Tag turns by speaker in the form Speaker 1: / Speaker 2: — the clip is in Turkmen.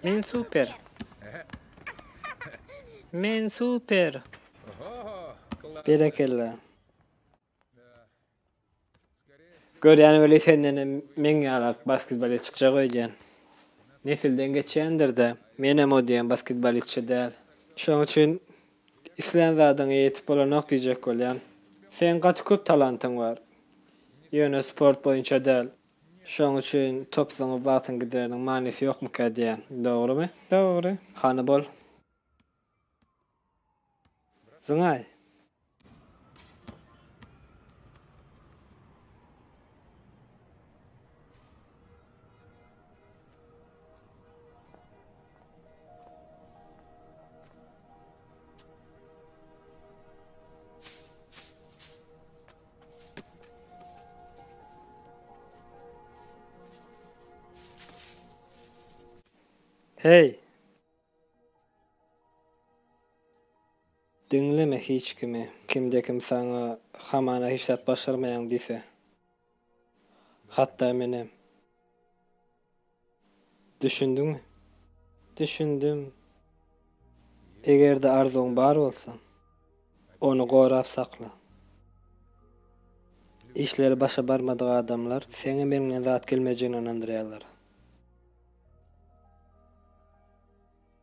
Speaker 1: Men super. Men super. Berekella. Görýän weli senden hem meň ýaly basketbolist çykjak öýdýän. Nesilden geçýändir-de. Men hem o diýen basketbolistçe däl. Şonuň üçin islän zadyňa ýetip bolanok diýjek bolýan. Seň gaty köp talantyň bar. Ýöne sport boýunça däl. Şoň üçin top zyňyp wagtyň gideriniň manysy ýokmyka diýýän. Dogrymy? Dogry. Hany bol. Zyňaý. Heý! Diňleme hiç kimi. Kimde-kim saňa hamana hiç zat başarmaýaň diýse. Hatda menem. Düşündiňmi? Düşündim. Eger-de arzuwyň bar bolsa, ony gorap sakla. Işleri başa barmadyk adamlar seňem eliňden zat gelmejegine ynandyrýarlar.